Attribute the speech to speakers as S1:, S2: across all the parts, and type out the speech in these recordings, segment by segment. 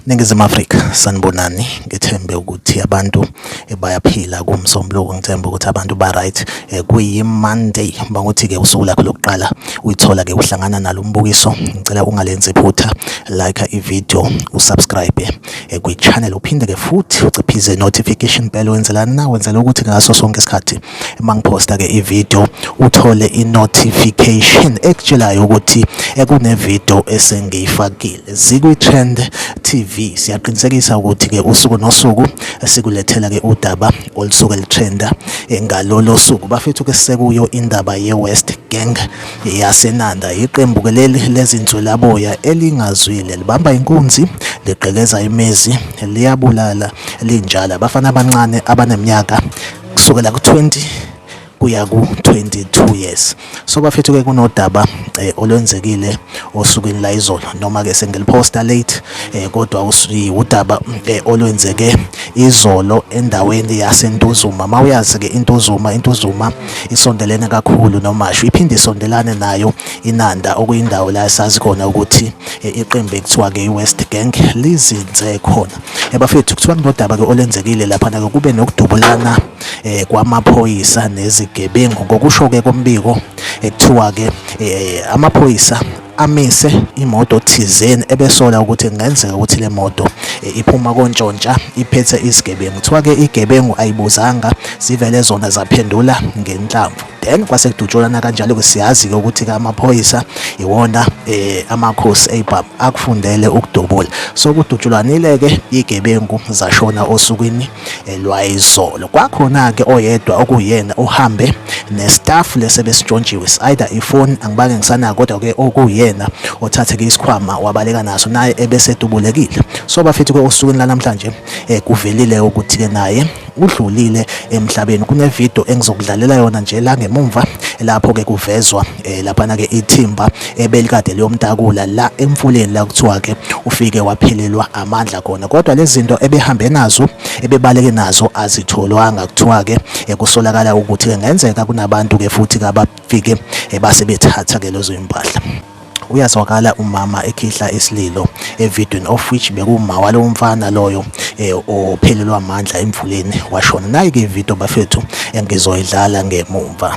S1: Ningizimu Afrika sanibonani ngithembe ukuthi abantu eh, bayaphila kumsombuluko ngithembe ukuthi abantu ba right eh, kuyi Monday banguthi ke usuku lakho lokuqala uyithola ke uhlangana nalo mbukiso ngicela ungalenzi phutha like i video usubscribe eh, kwi-channel uphinde ke futhi uciphize notification bell wenzela na wenzela ukuthi ngaso sonke isikhathi uma ngiphosta ke i-video uthole i-notification ekutshelayo ukuthi ekune-video eh, esengiyifakile zikwi-trend tv siyaqinisekisa ukuthi ke usuku nosuku sikulethela ke udaba olusuke lutrenda eh, ngalolo suku bafethu ke sekuyo indaba ye-west gang yaseNanda yiqembu ke leli lezinswelaboya elingazwile libamba inkunzi ligqekeza imizi liyabulala linjalo abafana abancane abaneminyaka kusukela ku-20 kuya ku-22 years so bafethu-ke kunodaba eh, olwenzekile osukwini la izolo noma-ke sengiliphosta late eh, kodwa udaba eh, olwenzeke izolo endaweni yasentuzuma uma uyazi-ke intuzuma intuzuma isondelene kakhulu nomashu iphinde isondelane nayo inanda okuyindawo la esazi khona ukuthi eh, iqembu ekuthiwa ke iwest gang lizinze khona ebafethu eh, kuthiwa kunodaba ke olenzekile laphana ke kube nokudubulana eh, kwamaphoyisa nezigebengu ngokusho ke kombiko ekuthiwa ke amaphoyisa amise imoto thizeni ebesola ukuthi kungenzeka ukuthi le moto eh, iphuma kontshontsha iphethe isigebengu kuthiwa ke igebengu ayibuzanga zivele zona zaphendula ngenhlamvu then kwase kudutshulana kanjalo ke siyazi ke ukuthi ke amaphoyisa iwona eh amakhosi eibab akufundele ukudubula so kudutshulwanile ke igebengu zashona osukwini elwayizolo kwakhona-ke oyedwa okuyena uhambe nestaff lesi ebesitshontshiwe si-either ifoni angibake ngisanako kodwa-ke okuyena othatheke isikhwama wabaleka naso naye ebesedubulekile so bafethu-ke osukwini lanamhlanje um kuvelile ukuthi-ke naye udlulile emhlabeni kunevidiyo engizokudlalela yona nje la ngemumva lapho-ke kuvezwa eh laphana ke ithimba ebelikade liyomtakula la emfuleni la kuthiwa ke ufike waphelelwa amandla khona kodwa lezinto ebehambe nazo ebebaleke nazo azitholwanga kuthiwa ke ekusolakala eh, ukuthi ke ngenzeka kunabantu ke futhi kabafike eh, base bethatha ke lezo impahla uyazwakala umama ekhihla isililo evidweni of which bekuma walo mfana loyo eh, ophelelwa amandla emfuleni washona nayi ke video bafethu engizoyidlala ngemumva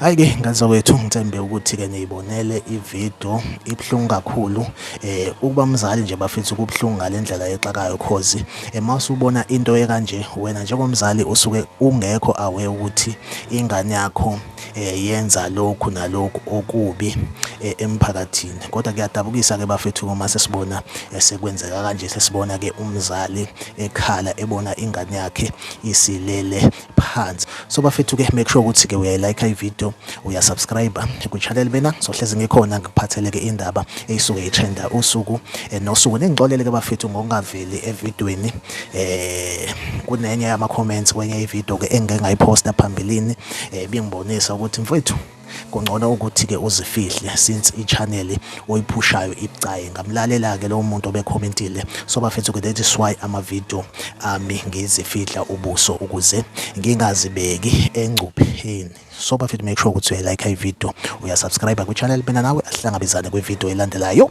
S1: Hayi-ke ngazowethu ngithembe ukuthi-ke niyibonele ividiyo ibuhlungu kakhulu um ukuba mzali nje bafethu kubuhlungu ngale ndlela exakayo cause Uma usubona into ekanje wena njengomzali usuke ungekho aware ukuthi ingane yakho eh, yenza lokhu nalokhu okubi eh, emphakathini kodwa kuyadabukisa ke bafethu uma sesibona eh, sekwenzeka kanje sesibona ke umzali ekhala ebona ingane yakhe isilele phansi so bafethu ke make sure ukuthi ke uyayilike i video uya subscribe ku channel bena sohlezi ngikhona ngikuphathele ke indaba eyisuke itrenda usuku eh, nosuku ningixolele ke bafethu ngokungaveli evidweni eh kunenye yama comments kwenye i video ke engike ngayiposta phambilini eh bingibonisa ukuthi mfethu kungcono ukuthi ke uzifihle since i-channel oyiphushayo ibucayi ngamlalela ke lowo muntu obecommentile so bafethu ke that is why ama-video ami ngizifihla ubuso ukuze ngingazibeki engcupheni so bafethu make sure ukuthi uyayilike i-video uyasubscribe kwi-channel mina nawe asihlangabezane kwi-video elandelayo